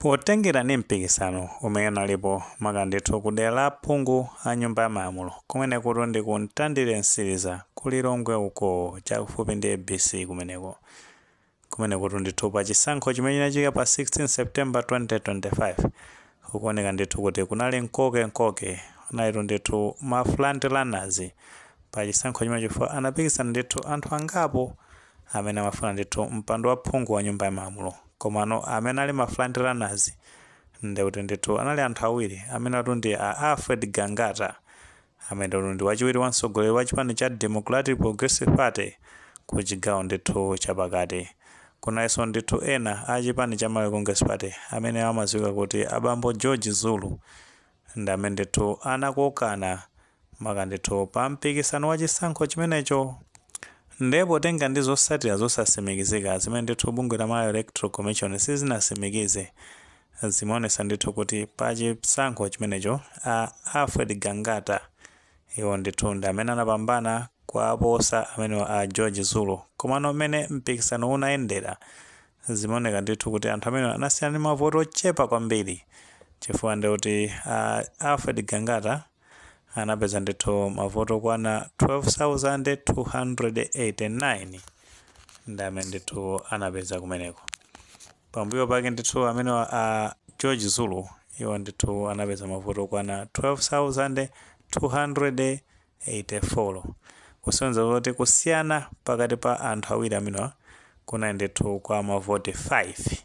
Potengera ndi mpikisano umene unalipo maka ndithu ku dera la phungu wa nyumba ya malamulo kumenekutu ndi ku Mtandire Mtsiliza ku Lilongwe uko chakufupi ndi ABC kumeneko kumenekutu ndithu pa chisankho chimene chinachitika pa 16 September 2025 kukuoneka ndithu kuti kunali mkokemkoke kunalitu ndithu ma front runners pa chisankho chimene chifukwa anapikisana ndithu anthu angapo amene amafuna ndithu mpando wa phungu wa nyumba ya malamulo komano amene ali ma front runners ndekuti ndithu anali anthu awiri amenewatu ndi a Alfred Gangata amenewatu ndi wachiwiri wa mtsogoleri wa chipani cha Democratic Progressive Party ku chigawo ndithu chapakati kunalinso ndithu ena a chipani cha Malawi Congress Party amene amadziwika kuti a bambo George Zulu Ndi amene ndithu anakokana maka ndithu pa mpikisano wa chisankho chimenecho nde potenga ndi zosatira zosasimikizika zimene ndithu bungwe la Malawi Electoral Commission sizinasimikize zimaonesa ndithu kuti pa chisankho chimenecho a Alfred Gangata iwo ndithu ndi amene anapambana kuwaposa amenewa a George Zulu komano mmene mpikisano unayendera Zimaoneka ndithu kuti anthu amenewa anasiyana ndi mavoti ochepa kwambiri chifukwa ndi kuti a Alfred Gangata anapeza ndithu mavoti okwana 12,289 ndi amene ndithu anapeza kumeneko. Pambuyo pake ndithu amenewa a George Zulu iwo ndithu anapeza mavoti okwana 84 kusonyeza zoti kusiyana pakati pa anthu awiri amenewa kunali ndithu kwa mavoti 5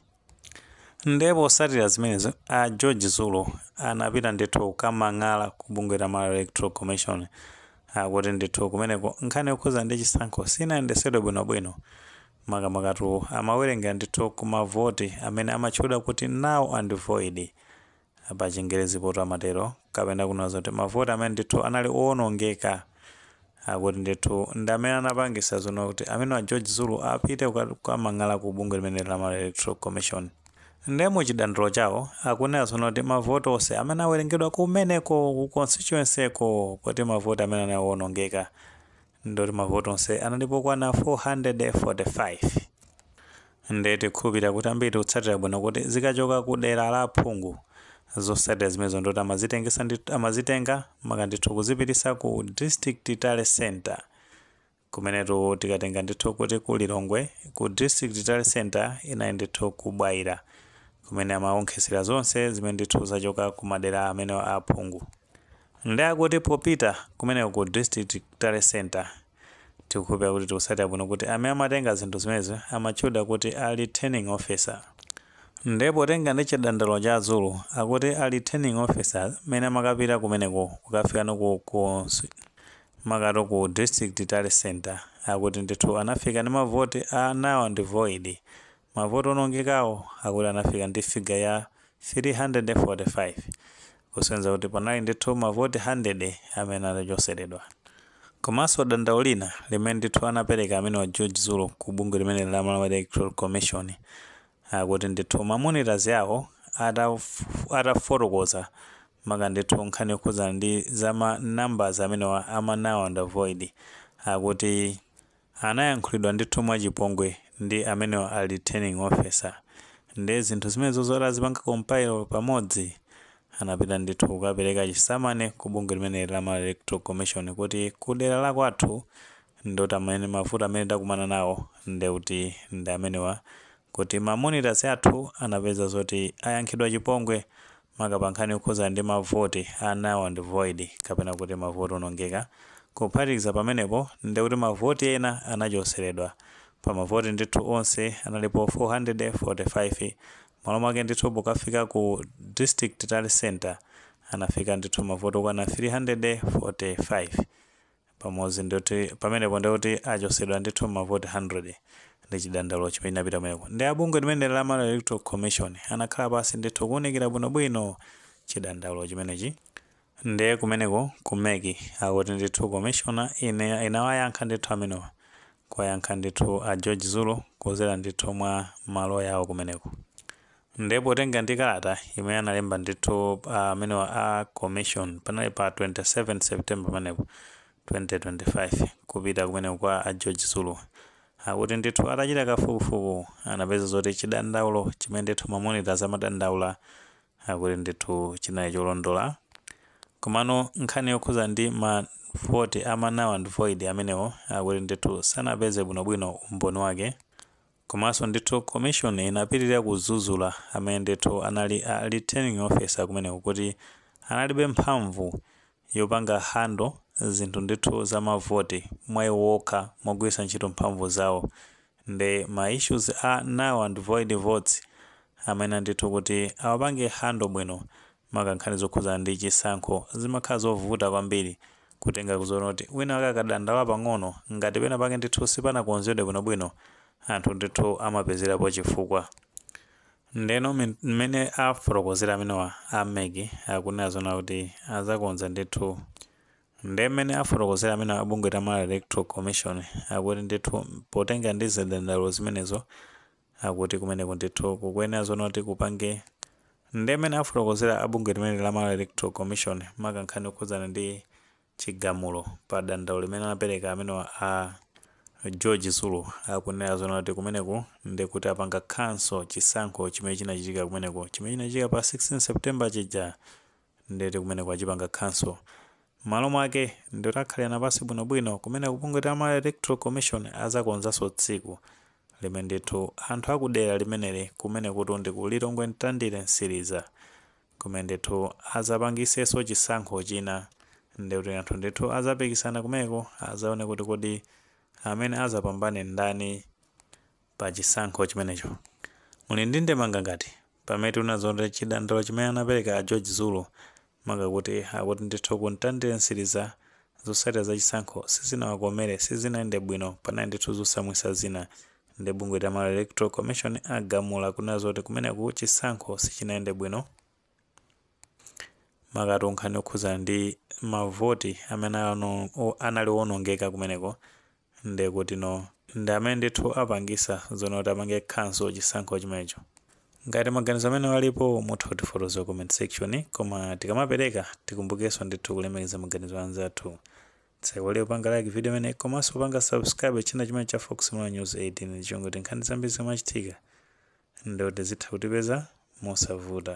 nde posatira zimenezo a george zulu anapita ndithu kukamang'ala ku bungwe la malawi electoral commission akuti ndithu kumeneko nkhani yokhuza ndi chisankho sinayendesedwe bwinobwino makamakatu amawerengera ndithu ku mavoti amene amatchedwa kuti null and void pa chingerezi poto amatero kapena kunena zoti mavoti amene ndithu anali owonongeka akuti ndithu ndi amene anapangisa zono kuti amenewa a George Zulu apite kuka- kukamang'ala ku bungwe limene la Malawi Electoral Commission ndiye mu chidandaulo chawo akunena zono kuti mavoti onse amene awerengedwa kumeneko ku constituency ko koti mavoti amene anali owonongeka ndoti mavoti onse analipo okwana 445 nde tikukhulupirira kuti ambiri tikutsatira bwino kuti zikachoka ku dera la phungu zotsatira zimenezo ndoti amazitengesa ndi amazitenga maka ndithu kuzipitisa ku district tally center kumenetu tikatenga ndithu kuti ku Lilongwe ku district tally center inali ndithu ku Bwaila kumene amaonkhesera zonse zimene ndithu zachoka ku madera amene a aphungu Nde akuti popita kumeneko ku district tally centre tikukhulupira kuti tikusatira bwino kuti amene amatenga zinthu zimenezi amatchulidwa kuti a returning officer nde potenga ndi chidandaulo cha a Zulu akuti a returning officer mene amakapita kumeneko kukafika no ku cons makato ku district tally centre akuti ndithu anafika ndi mavoti a null and void Mavoti onongekawo akuti anafika ndi figure ya 345 kusonyeza kuti panali ndithu mavoti 100 amene anachoseredwa. Komanso dandaulo lina limene ndithu anapereka amenewa a George Zulu ku bungwe limeneli la Malawi Electoral Commission akuti ndithu ma monitors awo atafotokoza maka ndithu nkhani yokhudza ndi za ma numbers amenewa ama null and void akuti Anayankhulidwa ndithu mwachipongwe ndi amenewa a returning officer. Nde zinthu zimenezozi atazipanga compile pamodzi anapita ndithu kukapereka chisamani ku bungwe limeneli la Malawi Electoral Commission kuti ku dera la kwathu ndoti amene mavuto amene takumana nawo ndekuti ndi amenewa kuti ma monitors athu anapeza zoti ayankhidwa chipongwe maka pa nkhani yokhudza ndi ma voti a null and void kapena kuti ma voti onongeka, kuphatikiza pamenepo ndekuti ma voti ena anachoseredwa pa ma voti ndithu onse analipo 445 malo mwake ndithu pokafika ku district tally centre anafika ndithu ma voti okwana 345. pamodzi ndoti pamenepo ndikuti achosedwa ndithu mavoti 100 ndi chidandaulo chimene chinapita kumeneko nde a bungwe limeneli la Malawi Electoral Commission anakhala pansi ndithu kuunikira bwinobwino chidandaulo chimenechi ndiye kumeneko ku mec akuti ndithu commission inawayankha ndithu amenewa kuwayankha ndithu a George Zulu kudzera ndithu mwa maloya awo kumeneko Nde potenga ndi kalata imene analemba ndithu amenewa a commission panali pa 27 September pamenepo 2025 kupita kumeneko kwa a George Zulu akuti ndithu atachita kafukufuku anapeza zoti chidandaulo chimene ndithu ma monitors amadandaula akuti ndithu chinali cholondola komano nkhani yokhuza ndi ma vote ama null and void amenewo akuti ndithu sanapeze bwinobwino umboni wake Komanso ndithu commission inapitilira kuzuzula amene ndithu anali a returning officer kumeneko kuti analibe mphamvu yopanga handle zinthu ndithu za ma vote mwa iwo okha mogwiritsa ntchito mphamvu zawo nde ma issues a null and void votes amayenera ndithu kuti awapange handle bwino maka nkhani zokhudzana ndi chisankho zimakhala zovuta kwambiri kutenga kuzona kuti wina wake akadandaula pang'ono ngati pena pake ndithu sipanakonzedwe bwinobwino anthu ndithu amapezerapo chifukwa ndeno mmene afotokozera amenewa a mec akunena zona kuti azakonza ndithu nde mmene afotokozera amenewa abungwe la Malawi Electoral Commission akuti ndithu potengera ndi zidandaulo zimenezo akuti kumeneku ndithu kukuyenera zoona kuti kupange nde mmene afotokozera a bungwe limeneli la Malawi Electoral Commission maka nkhani yokhudzana ndi chigamulo pa dandaulo limene anapereka amenewa a George Zulu akunena zoona kuti kumeneku ndi kuti apanga cancel chisankho chimene chinachitika kumeneku chimene chinachitika pa 16 September chija ndeti kumeneko achipanga cancel mmalo mwake ndeti akhalirana pansi bwinobwino kumene kubungwe la Malawi Electoral Commission azakonzanso tsiku limene ndithu anthu akudera limeneli kumene kuti ndi ku Lilongwe Ntandire Nsiliza kumene ndithu azapangisenso chisankho china ndikuti anthu ndithu azapikisana kumeneko azaone kuti kodi amene azapambane ndani pa chisankho chimenecho. Muli ndi ndemanga ngati? Pamene tinazona kuti chidandaulo chimene anapereka a George Zulu maka kuti akuti ndithu ku Ntandire Nsiliza zotsatira za chisankho sizinawakomere sizinayende bwino panali ndithu zosamvetsa zina nde bungwe la Malawi Electoral Commission agamula kunena zoti kumeneku chisankho sichinayende bwino maka nkhani yokhudzana ndi mavoti amene ano- o- anali owonongeka kumeneko ndi kuti no ndi amene ndithu apangisa zona kuti apange cancel chisankho chimenecho ngati maganizo amene walipo mutha kutifotokozera ku comment section koma tikamapereka tikumbukenso ndithu kulemekeza maganizo a anzathu tisaiwale kupanga like video imene komanso kupanga subscribe channel chimene cha fox malawi news 18 ndicholinga choti nkhani zambiri zimachitika Ndi kuti zitha kutipeza mosavuta.